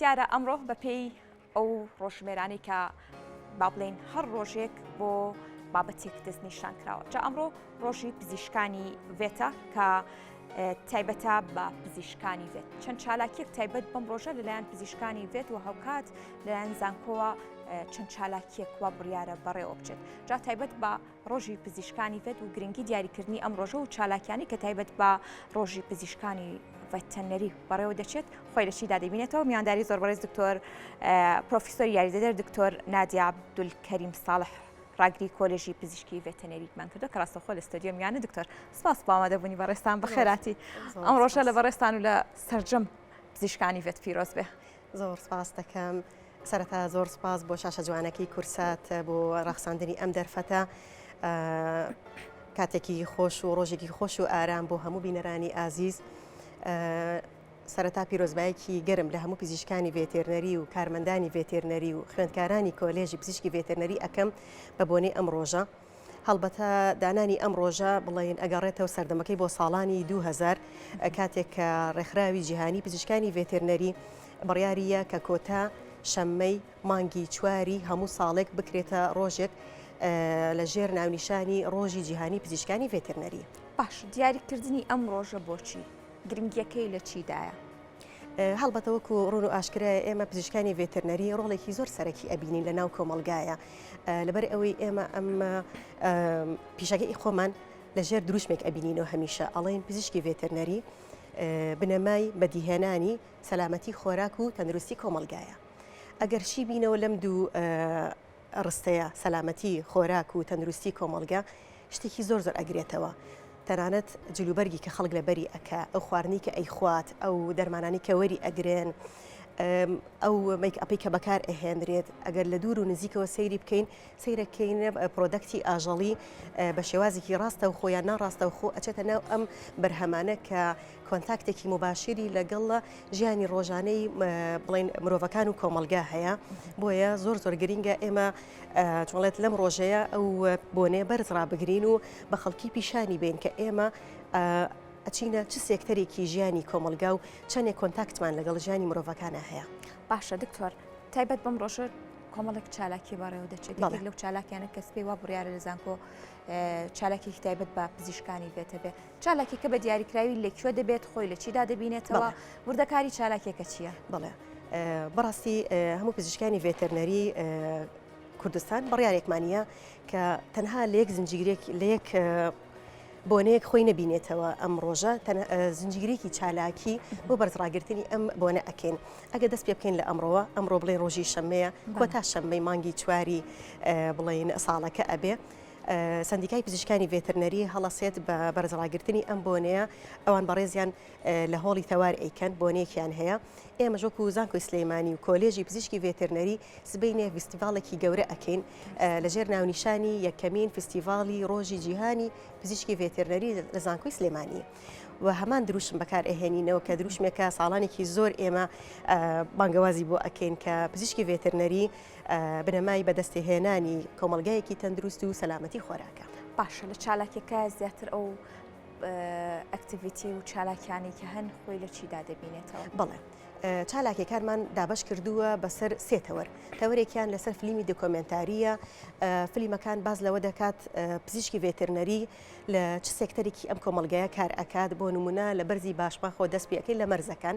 دیارە ئەمڕۆ بە پێی ئەو ڕۆژژمێرانەی کە با بڵێین هەر ڕۆژێک بۆ بابەتێک دەستنیشان کراوە جا ئەمڕۆ ڕۆژی پزیشکانی ڤێتە کە تایبەتە بە پزیشکانی ڤێت چەند چالاکیەک تایبەت بەم ڕۆژە لەلایەن پزیشکانی ڤێت و هەوکات لەلایەن زانکۆوە چەند چالاکیەک وا بڕیاە بەڕێوە بچێت جا تایبەت بە ڕۆژی پزیشکانی ڤێت و گرنگی دیاریکردنی ئەم ڕۆژە و چالاکیانی کە تایبەت بە ڕۆژی پزیشکانی ڤەتەنەری بەڕێوە دەچێت خۆی لە چیدا دەبینێتەوە میانداری زۆر بەڕێز دکتۆر پرۆفیسۆر یاریدەدەر دکتۆر نادیا عبدولکەریم ساڵح ڕاگری کۆلژی پزیشکی ڤێتەنەریکمان کردو کە ڕاستەخۆ لە ستۆدیۆ میانە دکتۆر سپاس باوە دەبوونی بەڕێستان بەخێراتی ئەم ڕۆژە لە بەڕێستان و لە سرجەم پزیشکانی ڤێت پیرۆز بێ. زۆر سپاست دەکەم. سەرەتا زۆر سپاس بۆ شاشە جوانەکەی کورسات بۆ ڕەخساندنی ئەم دەرفەتە. کاتێکی خۆش و ڕۆژێکی خۆش و ئارام بۆ هەموو بینەرانی ئازیز. سەرەتا پیرۆزبایەکی گەرم لە هەموو پزیشکانی ڤێتێرنەری و کارمەندانی ڤێتێرنەری و خوێندکارانی کۆلێژی پزیشکی ڤێتێرنەری ئەکەم بە بۆنەی ئەم ڕۆژە. هەڵبەتە دانانی ئەم ڕۆژە بڵێین ئەگەڕێتەوە سەردەمەکەی بۆ ساڵانی 2000 کاتێک کە ڕێکخراوی جیهانی پزیشکانی ڤێتێرنەری بڕیاریە کە کۆتا شەممەی مانگی چواری هەموو ساڵێک بکرێتە ڕۆژێک لە ژێر ناونیشانی ڕۆژی جیهانی پزیشکانی ڤێترنەری باش دیاریکردنی ئەم ڕۆژە بۆچی گرنگیەکەی لە چیدایە؟ هەڵبەتە وەکو ڕون و ئاشکرایە ئێمە پزیشکانی ڤێترنەری ڕۆڵێکی زۆر سەرەکی ئەبینین لە ناو کۆمەلگایە لەبەر ئەوەی ئێمە ئەم پیشەکەی خۆمان لە ژێر دروشمێک ئەبینینەوە هەمیشە ئەڵین پزیشکی ڤێترنەری بنەمای بەدیهێنانی سەلامەتی خۆراک و تەندروستی کۆمەلگایە ئەگەر شی بینەوە لەم دوو ڕستەیە سەلامەتی خۆراک و تەندروستی کۆمەڵگە شتێکی زۆر زۆر ئەگرێتەوە تەنانەت جل و بەرگی کە خەڵک لەبەری ئەکا ئەو خواردنی کە ئەیخوات ئەو دەرمانانی کە وەری ئەگرن ئەو میک ئەپی کە بەکار ئەهێنرێت ئەگەر لە دوور و نزیکەوە سەیری بکەین سەیرەکەین پرۆدەکتی ئاژەڵی بە شێوازێکی ڕاستە و خۆیان ناڕاستە و خۆ ئەچێتە ناو ئەم بەرهەمانە کە کۆنتاکتێکی موباشیری لەگەڵ ژیانی ڕۆژانەی بڵین مرۆڤەکان و کۆمەلگا هەیە بۆیە زۆر زۆر گرینگە ئێمە چۆڵێت لەم ڕۆژەیە ئەو بۆنێ بەرز ڕابگرین و بە خەڵکی پیشانی بین کە ئێمە ئەچینە چ سێکتەرێکی ژیانی کۆمەلگا و چەندێک کۆنتاکتمان لەگەڵ ژیانی مرۆڤەکانە هەیە باشە دکتۆر تایبەت بەم ڕۆژە کۆمەڵێک چالاکی بەڕێوە دەچێت لەو چالاکیانە کەس پێی وا بڕیاە لە زانکۆ چالاکێکی تایبەت بە پزیشکانی بێتە بێ چالاکیەکە بە دیاریکراوی لە کوێ دەبێت خۆی لە چیدا دەبینێتەوە وردەکاری چالاکیەکە چییە؟ بڵێ بەڕاستی هەموو پزیشکانی ڤێتەرنەری کوردستان بڕارێکمانە کە تەنها لە یەک زنجیرێک لە یەک بۆنەیەک خۆی نبینێتەوە ئەم ڕۆژە زنجیرێکی چالاکی بۆ بەرزڕاگرتنی ئەم بۆنە ئەکەین ئەگە دەست پێ بکەین لە ئەمڕۆوە ئەمڕۆ بڵێ ڕۆژی شەمەیە کۆتا شەممەی مانگی چواری بڵین ساڵەکە ئەبێ سەندیکای پزیشکانی ڤێترنەری هەڵەسێت بە بەرزەڵاگرتنی ئەم بۆنەیە ئەوان بەڕێزیان لە هۆڵی تەوار ئەیکەن بۆنەیەکیان هەیە ئێمە ژۆک و زانکۆی سلەیمانی و کۆلێژی پزیشکی ڤێترنەری سبینێ فستیڤالێکی گەورە ئەکەین لەژێر ناونیشانی یەکەمین فستیڤالی ڕۆژی جیهانی پزیشکی ڤێترنەری لە زانکۆی سلێمانی و هەمان دروشم بەکار ئەهێنینەوە کە دروشمێکە ساڵانێکی زۆر ئێمە بانگەوازی بۆ ئەکەین کە پزیشکی ڤێترنەری بنەمای بەدەستهێنانی کۆمەڵگایەکی تەندروست و سەلامەتی خۆراکە. باشە لە چالاکیەکە زیاتر ئەو ئەکتیڤیتی و چالاکیانی کە هەن خۆی لە چیدا دەبینێتەوە بڵێ چالاکیەکانمان دابش کردووە بەسەر سێتەوەر تەوەرێکیان لەسەر فلیمی دکۆمنتاریە فلیمەکان باز لەوە دەکات پزیشکی ڤێترنەری لە چ سێکتەرێکی ئەم کۆمەلگایە کار ئەکات بۆ نمونە لە بەرزی باشماخۆ دەست پێەکەی لە مەرزەکان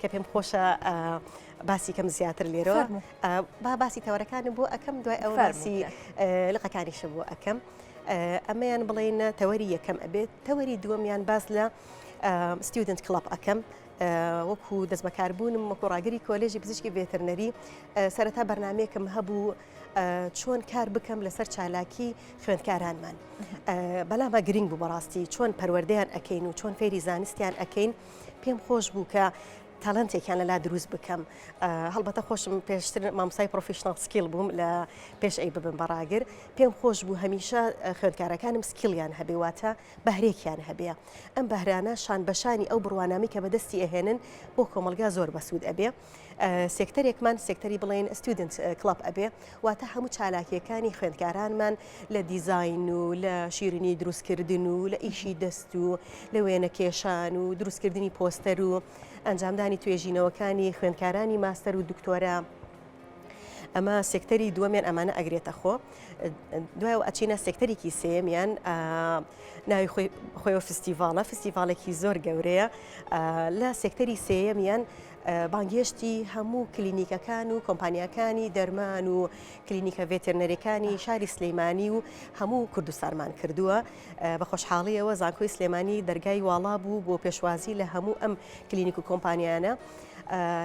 کە پێم خۆشە باسی کەم زیاتر لێرە با باسی تەوەرەکانم بۆ ئەەکەم دوای ئەو باسی لقەکانیشە بۆ ئەەکەم ئەمەیان بڵێنە تەوەری یەکەم ئەبێت تەوەری دووەمیان باز لە ستودنت کلڵپ ئەەکەم وەکو دەست بەکاربوونم وەکو ڕاگری کۆلێژی پزیشکی بێتەرنەری سەرەتا بەرنمەیەکم هەبوو چۆن کار بکەم لەسەر چالاکی خوێندکارانمان بەلامە گرنگ بوو بەڕاستی چۆن پەروەردەیان ئەەکەین و چۆن فێری زانستیان ئەەکەین و پێم خۆش بوو کە تالنتێکیان لەلا دروست بکەم هەڵبەتە خۆشم پێشتر مامسای پرۆفیشنال سکیل بووم لە پێش ئەی ببم بەڕاگر پێم خۆش بوو هەمیشە خوێندکارەکانم سکیلیان هەبێ واتە بەهرێکیان هەبێ ئەم بەهرانە شان بەشانی ئەو بڕوانامی کە بەدەستی ئەهێنن بۆ کۆمەلگا زۆر بەسوود ئەبێ سێکتەرێکمان سێکتەری بڵێن ستودنت کڵب ئەبێ واتە هەموو چالاکیەکانی خوێندکارانمان لە دیزین و لە شیرنی دروستکردن و لە ئیشی دەست و لە وێنە کێشان و دروستکردنی پۆستەر و ئەنجامدانی توێژینەوەکانی خوێندکارانی ماستەر و دکتۆرە ئەمە سێکتەری دووەمیان ئەمانە ئەگرێتە خۆ دوای ئەچینە سێکتەرێکی سێمیان ناوی خۆی فستیڤالە فستیڤالێکی زۆر گەورەیە لە سێکتەری سێمیان بانگهێشتی هەموو کلینیکەکان و کۆمپانیاکانی دەرمان و کلینیکە ڤێتێرنەرەکانی شاری سلەیمانی و هەموو کوردستانمان کردووە بە خۆشحاڵیەوە زانکۆی سلێمانی دەرگای واڵا بوو بۆ پێشوازی لە هەموو ئەم کلینیک و کۆمپانیانە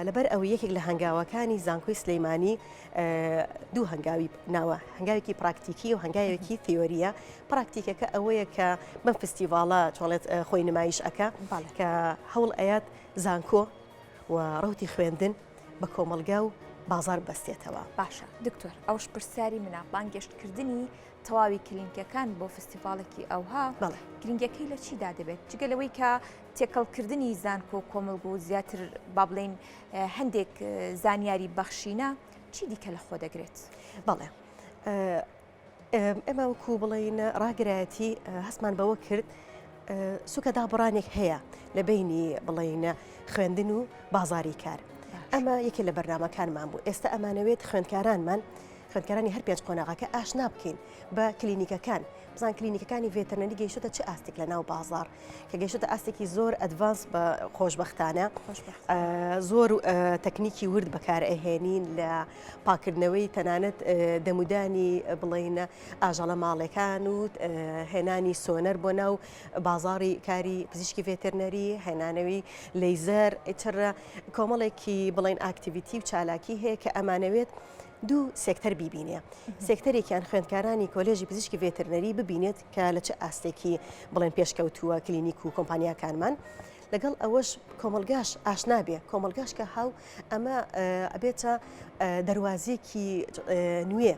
لەبەر ئەو یەکێک لە هەنگاوەکانی زانکۆی سلەیمانی دوو هەنگاوی ناوە هەنگاوێکی پراکتیکی و هەنگاوێکی تیۆریە پراکتیکەکە ئەوەیە کە بەم فستیڤاڵە چۆڵێت خۆی نمایش ئەەکە کە هەوڵ ئەیات زانکۆ و ڕەوتی خوێندن بە کۆمەڵگا و بازار بەستێتەوە باشە دکتۆر ئەوش پرسیاری منە بانگێشت کردنی تەواوی کلینکەکان بۆ فستیڤالێکی ئەوها بەڵێ گرنگەکەی لە چیدا دەبێت جگە لەوەی کە تێکەڵکردنی زانکۆ کۆمەلگو و زیاتر با بڵین هەندێک زانیاری بەخشینە چی دیکە لە خۆ دەگرێت بەڵێ ئێمە وەکو بڵین ڕاگرایەتی هەستمان بەوە کرد سوکە دابڕانێک هەیە لە بینی بڵینە خوێندن و بازاری کار ئەمە یەکێ لە بەرنمەکانمان بوو ئێستا ئەمانەوێت خوێندکارانمان خوێندکارانی هەر پێنج قۆناغەکە ئاشنا بکەین بە کلینیکەکان بزان کلینیکەکانی ڤێتەرنەری گەیشتە چ ئاستێک لە ناو بازار کە گەشتە ئاستێکی زۆر ئەدڤانس بە خۆشببختانە زۆر تەکنیکی ورد بەکارئهێنین لە پاککردنەوەی تەنانەت دەمودانی بڵین ئاژەڵە ماڵەکان و هێنانی سۆنەر بۆ ناو بازاری کاری پزیشکی ڤێترنەری هێنانەوەی لەیزەر ئیتر کۆمەڵێکی بڵین ئاکتیویتی و چالاکی هەیە کە ئەمانەوێت دوو سێکتەر بیبینێ سێکتەرێکیان خوێندکارانی کۆلێژی پزیشکی ڤێترنەری ببینێت کە لە چه ئاستێکی بڵێن پێشکەوتووە کلینیک و کۆمپانیاکانمان لەگەڵ ئەوەش کۆمەڵگاش ئاشنا بێ کۆمەڵگاش کە هاو ئەمە ئەبێتە دەواازیەکی نوێ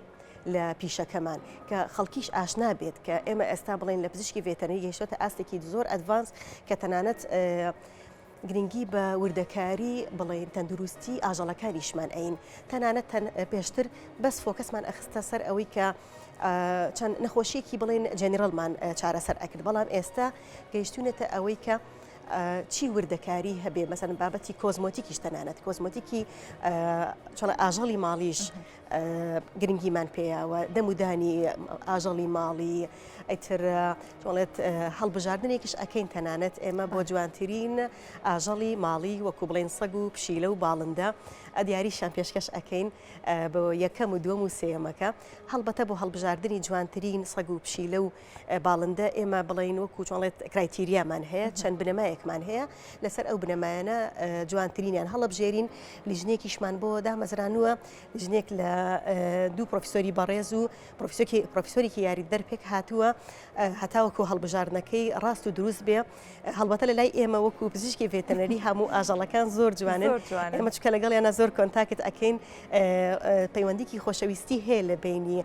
لە پیشەکەمان کە خەڵکیش ئاشنا بێت کە ئێمە ئێستا بڵین لە پزیشکی ڤێتەنی گەشتە ئاستێکی زۆر ئەدڤانس کە تەنانەت گرنگی بە وردەکاری بڵێن تەندروستی ئاژەڵەکانیشمان ئەین تەنانەت پێشتر بەس فۆکەسمان ئەخستە سەر ئەوەی کە چەند نەخۆشیەکی بڵێن جەنیرەلمان چارەسەر ئەکرد بەڵام ئێستا گەیشتونەتە ئەوەی کە چی وردەکاری هەبێ مەسەن بابەتی کۆزمۆتیکیش تەنانەت کۆزمۆتیکی چڵە ئاژەڵی ماڵیش گرنگیمان پێیاوە دەمودانی ئاژەڵی ماڵی ئەتر تۆڵێت هەڵبژاردنێکیش ئەکەین تەنانەت ئێمە بۆ جوانترین ئاژەڵی ماڵی وەکو بڵێن سەگ و پشیلە و باڵندە ئەدیاری شان پێشکەش ئەەکەین بۆ یەکەم و دووەم و سێمەکە هەڵبەتە بۆ هەڵبژاردننی جوانترین سەگ و پشیلە و باڵندە ئێمە بڵین وەکو چۆڵێت کرایتیریامان هەیە چەند بنەمایەکمان هەیە لەسەر ئەو بنەمایانە جوانترینیان هەڵبژێرین لیژنێکیشمان بۆ دامەزرانووە ژنێک لە دوو پرۆفیسۆری بەڕێز و پرۆفیسۆکی پرۆفیسۆرێکی یاری دەرپێک هاتووە هەتاوەکو هەڵبژاردنەکەی ڕاست و دروست بێ هەڵبەتە لە لای ئێمە وەکو پزیشکی ڤێتەنەری هەموو ئاژەڵەکان زۆر جوانن ئەمە چکە لەگەڵیانە زۆر کۆنتاکت ئەکەین پەیوەندیکی خۆشەویستی هەیە لە بینی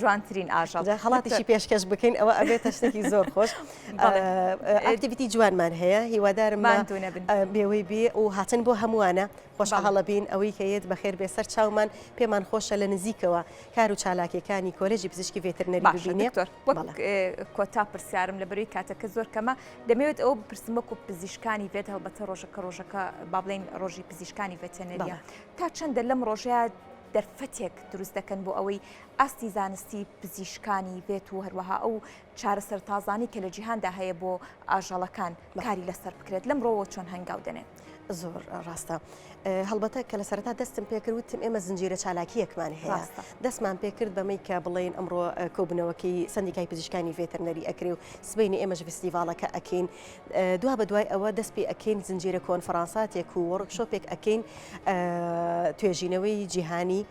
جوانترین ئاژەڵ خەڵاتیشی پێشکەش بکەین ئەوە ئەبێتە شتێکی زۆر خۆش ئەکتیویتی جوانمان هەیە هیوادارم بێوەی بێ و هاتن بۆ هەمووانە خۆش هەڵە بین ئەوەی کە یەت بەخێر بێ سەر چاومان پێمان خۆشە لە نزیکەوە کار و چالاکیەکانی کۆلێژی پزیشکی ڤێترنەری باشێنێ کۆتا پرسیارم لە بەروی کاتەکە زۆر کەمە دەمەوێت ئەو پرسمەک و پزیشکانی بێت هەڵبەتە ڕۆژەکە ڕۆژەکە با بڵین ڕۆژی پزیشکانی ڤێتەنەریە تا چەندە لەم ڕۆژەیە دەرفەتێک دروست دەکەن بۆ ئەوەی ئاستی زانستی پزیشکانی بێت و هەروەها ئەو چارەسەر تازانەی کە لە جیهاندا هەیە بۆ ئاژەڵەکان کاری لەسەر بکرێت لەم ڕۆوە چۆن هەنگاو دەنێن زۆر ڕاستە هەڵبەتە کە لە سەرتا دەستم پێکردوتم ئێمە زنجیرە چالاکیەکمان هەیە دەستمان پێکرد بەمەی کە بڵین ئەمڕۆ کۆبنەوەکەی سندیکای پزیشکانی ڤێتەرنەری ئەکرێ و سبینی ئێمەش فستیڤالەکە ئەکەین دوا بە دوای ئەوە دەست پێ ئەکەین زنجیرە کۆنفرانساتێک و وەڕک شۆپێک ئەکەین توێژینەوەی جیهانی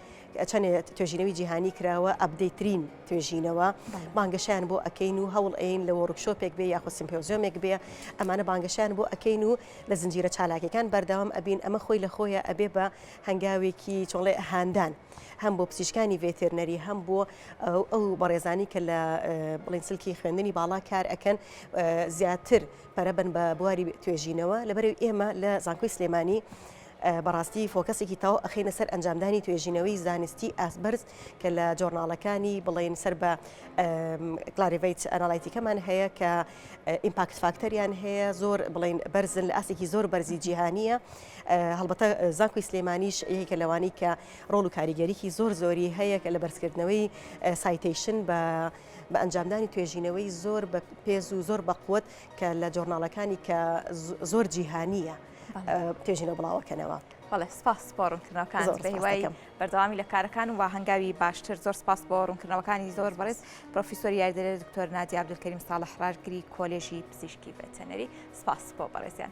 چەنێ توێژینەوی جیهانی کراوە ئەبدەیترین توێژینەوە بانگەشیان بۆ ئەەکەین و هەوڵ ئەین لە وەڕکشۆپێک بێ یاخۆ سیمپۆزیۆمێک بێ ئەمانە بانگەشیان بۆ ئەەکەین و لە زنجیرە چالاکەکان بەردەوام ئەبین ئەمە خۆی لە خۆیە ئەبێ بە هەنگاوێکی چۆڵێ هاندان هەم بۆ پزیشکانی ڤێتێرنەری هەم بۆ ئەو بەڕێزانی کە لە بڵین سلکی خوێندنی باڵا کار ئەەکەن زیاتر پەرەبن بە بواری توێژینەوە لەبەر ئێمە لە زانکۆی سلێمانی بەڕاستی فۆکەسێکی تەواو ئەخەینە سەر ئەنجامدانی توێژینەوەی زانستی ئاستبەرز کە لە جۆرناڵەکانی بڵێن سەر بە کلاریڤیت ئەناڵایتیکەمان هەیە کە ئیمپاکت فاکتەریان هەیە زۆر بڵین بەرزن لە ئاستێکی زۆر بەرزی جیهانیە هەڵبەتە زانکۆی سلێمانیش یەکە لەوانی کە ڕۆڵ و کاریگەریکی زۆر زۆری هەیە کە لە بەرزکردنەوەی سایتیشن بە بە ئەنجامدانی توێژینەوەی زۆر بە پێز و زۆر بەقوت کە لە جۆرناڵەکانی کە زۆر جیهانیە. توێژینەوە بڵاوەکەنەوە بەڵێ سپاس بۆ ڕوونکردنەوەکان بەهیوای بەردەوامی لە کارەکان و هەنگاوی باشتر زۆر سپاس بۆ ڕوونکردنەوەکانی زۆر بەڕێز پرۆفیسۆری یاریدەرە دکتۆر نادی عبدولکەریم ساڵح ڕاژگری کۆلێژی پزیشکی بەتەنەری سپاس بۆ بەڕێزیان